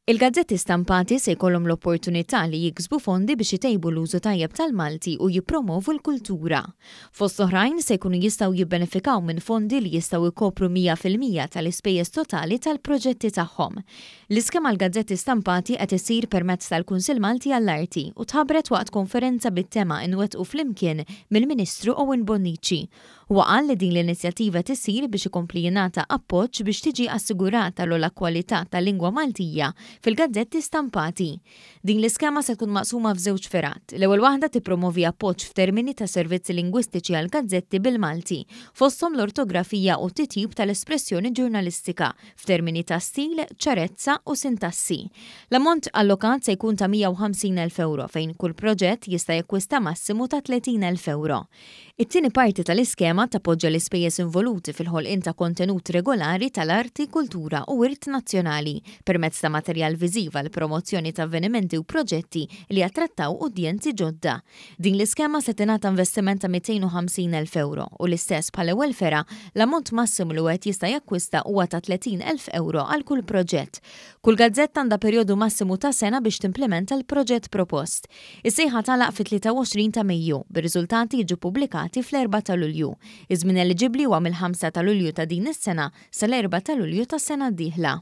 Il-gazzetti stampati se jkollhom l-opportunità li jiksbu fondi biex itejbu l-użu tajjeb tal-Malti u jippromovu l-kultura. Fost l-oħrajn, se jkunu jistgħu jibbenefikaw minn fondi li jistgħu jkopru 100 fil-mija tal-ispejjeż totali tal-proġetti tagħhom. L-iskema għall-gazzetti stampati qed issir permezz tal-Kunsill Malti għall-Arti u tħabbret waqt konferenza bit-tema Inwettqu Flimkien mill-Ministru Owen Bonnici Huwa qal li din l-inizjattiva qed issir biex ikompli jingħata appoġġ biex tiġi assigurata l-ogħla kwalità tal-lingwa Maltija fil-gazzetti stampati. Din l-iskema se tkun maqsuma f'żewġ fergħat. L-ewwel waħda tippromovi appoġġ f'termini ta' servizzi lingwistiċi għall-gazzetti bil-Malti, fosthom l-ortografija u t-titjib tal-espressjoni ġurnalistika f'termini ta' stil, ċarezza u sintassi. L-ammont allokat se jkun ta' 150,000 ewro fejn kull proġett jista' jakkwista massimu ta' 30,000 ewro. It-tieni parti tal-iskema tappoġġa l-ispejjeż involuti fil-ħolqien ta' kontenut regolari tal-arti, kultura u wirt nazzjonali, permezz ta' materjal viżiv għall-promozzjoni ta' avvenimenti u proġetti li jattrattaw udjenzi ġodda. Din l-iskema se tingħata investiment ta' 250,000 ewro u l-istess bħall-ewwel fergħa, l-ammont massimu li wieħed jista' jakkwista huwa ta' 30,000 ewro għal kull proġett. Kull gazzetta għandha perjodu massimu ta' sena biex timplimenta l-proġett propost. Is-sejħa tagħlaq fit-23 ta' Mejju, bir-riżultati jiġu ppubblikati fl-4 ta' Lulju. Iż-żmien eliġibbli huwa mill-5 ta' Lulju ta' din is-sena sal-4 ta' Lulju tas-sena d-dieħla.